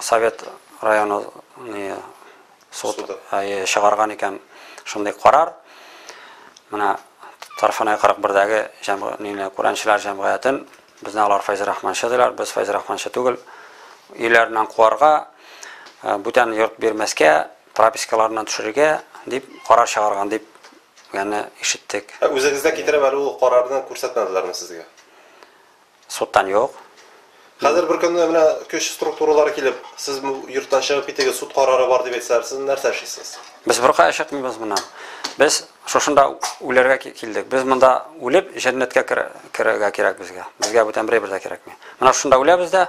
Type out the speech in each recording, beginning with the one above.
Совет районы суд чыгарган икән шундый карар. Менә Тарфанай 41-дәге җәмгыятьне күрәнчеләр җәмгыятен безне алар Файз Рахманчы диләр, без Файз Рахманчы түгел. Өйләреннән куарга, бүтән йорт бирмәскә, пропискаларыннан төшерергә дип карар чыгарган дип яны ишеттек. Ә үзегездә китереп әле ул карарны күрсәтмәделәрме сезгә? Судтан юк. Хәзер бер көнне менә көч структуралары килеп, сез бу йорттан чыгып китегез, суд карары бар дип әйтсәләр, сез нәрсә эшлисез? Без беркая чыкмыйбыз моннан. Без шушында үләргә килдек. Без монда үлеп, җәннәткә керергә кирәк безгә. Безгә бүтән берәй бер дә кирәкми. Менә шушында үләбез дә,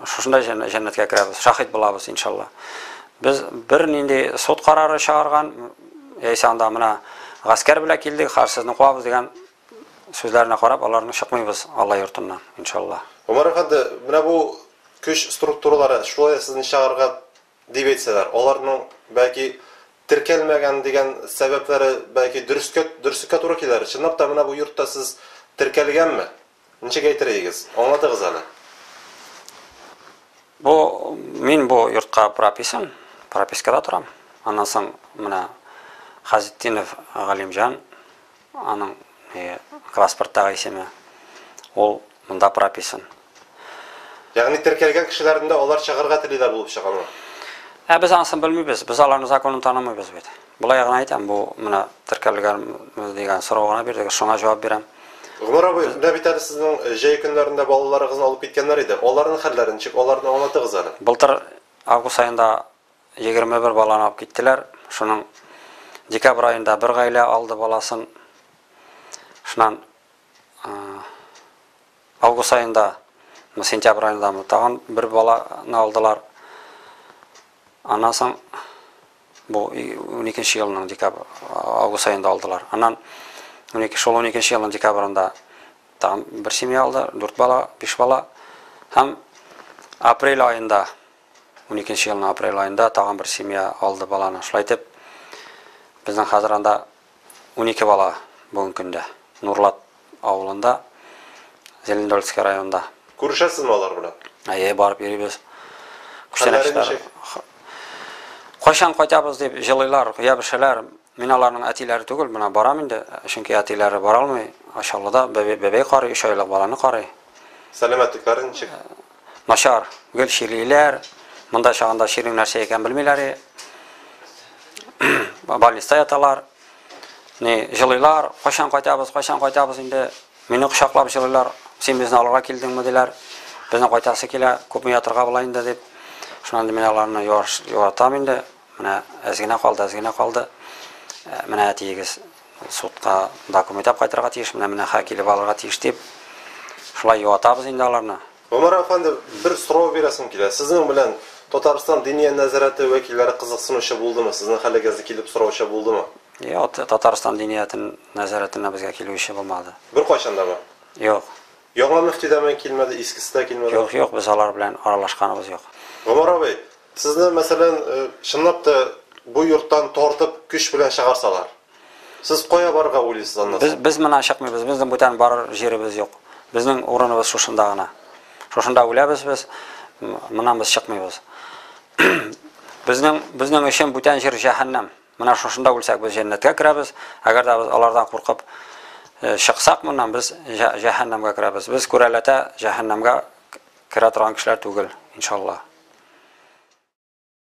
шушында җәннәткә керәбез, шаһит булабыз, иншалла. Без бер нинди суд карары чыгарган, яисә анда менә гаскәр белән килдек, хәзер сезне куабыз дигән сүзләренә карап, аларны чыкмыйбыз Алла йортыннан, иншалла. Гомәр әфәнде, менә бу көч структуралары шулай сезне чыгарырга дип әйтсәләр, аларның, бәлки, теркәлмәгән дигән сәбәпләре, бәлки, дөрескә, дөреслеккә туры килер. Чынлап та, менә бу йортта сез теркәлгәнме? Ничек әйтер идегез? Аңлатыгыз әле. Бу, мин бу йортка прописан, пропискада торам. Аннан соң менә Хазетдинов Галимҗан Аның паспорттагы исеме, ул монда прописан. Ягъни теркәлгән кешеләрдән дә алар чыгарга телиләр булып чыгамы? Ә без анысын белмибез, без аларның законын танымыйбыз бит. Болай гына әйтәм, бу менә теркәлгән дигән сорау гына бирдегез, шуңа җавап бирәм. Гомәр абый, менә бит әле сезнең э, җәй көннәрендә балаларыгызны алып киткәннәр иде. Аларның хәлләре ничек? Аларны аңлатыгыз әле. Былтыр август айында Егерме бер баланы алып киттеләр. Шуның декабрь аенда бер гаилә алды баласын. Шуннан август аенда, сентябрь аенда тагын бер баланы алдылар. Аннан соң бу 12 елның декабрь август аенда алдылар. Аннан 12 шул 12 елның декабрында тагын бер семья алды, 4 бала, 5 бала. Һәм апрель аенда Уникенче елның апрель аенда тагын бер семья алды баланы. Шулай итеп, безнең хәзер анда унике бала бүгенге көндә. Нурлат авылында, Зелендольский районында. Күрешәсезме алар белән? Әйе, барып йөрибез. Хәлләре ничек? Кайчан кайтабыз дип җылыйлар, ябешәләр. Мин аларның әтиләре түгел, менә барам инде, чөнки әтиләре бара алмый. Ачалыда бәбәй карый, өч айлык баланы карый. Сәламәтлекләре ничек? начар гел чирлиләр. Монда чагында чирнең нәрсә икән белмиләр. Больниста яталар. Ни, җылыйлар, кайчан кайтабыз, кайчан кайтабыз инде. Мине кочаклап җылыйлар. Син безне алырга килдеңме диләр. Безне кайтасы килә, күпме ятырга була инде дип. Шуннан мин аларны юатам инде. Менә әз генә калды, әз генә калды. Э, менә әтиегез судка документ алып кайтырга тиеш, менә менә хак килеп алырга тиеш дип. Шулай юатабыз инде аларны. Гомәр әфәнде, бер сорау бирәсем килә. Сезнең белән Татарстан диния нәзарәте вәкилләре кызыксынучы булдымы? Сезнең хәлегезне килеп сораучы булдымы? Йо, Татарстан диниятен нәзарәтенә безгә килүче булмады. Бер кайчан да бар. Юк. Яңа мөфти дә килмәде, искесе дә килмәде. Юк, юк, без алар белән аралашканыбыз юк. Гомәр абый, Сезне, мәсәлән, чынлап та бу йорттан тартып, көч белән чыгарсалар, сез кая барырга уйлыйсыз аннан Без, соң? без моннан чыкмыйбыз, безнең бүтән барыр җиребез юк. Безнең урыныбыз шушында гына. Шушында үләбез без, м, моннан без чыкмыйбыз. Безнең, безнең өчен бүтән җир җәһәннәм. Менә шушында үлсәк без җәннәткә керәбез, әгәр дә без алардан куркып чыксак моннан без җәһәннәмгә керәбез. Без күрәләтә җәһәннәмгә керә торган кешеләр түгел, иншалла.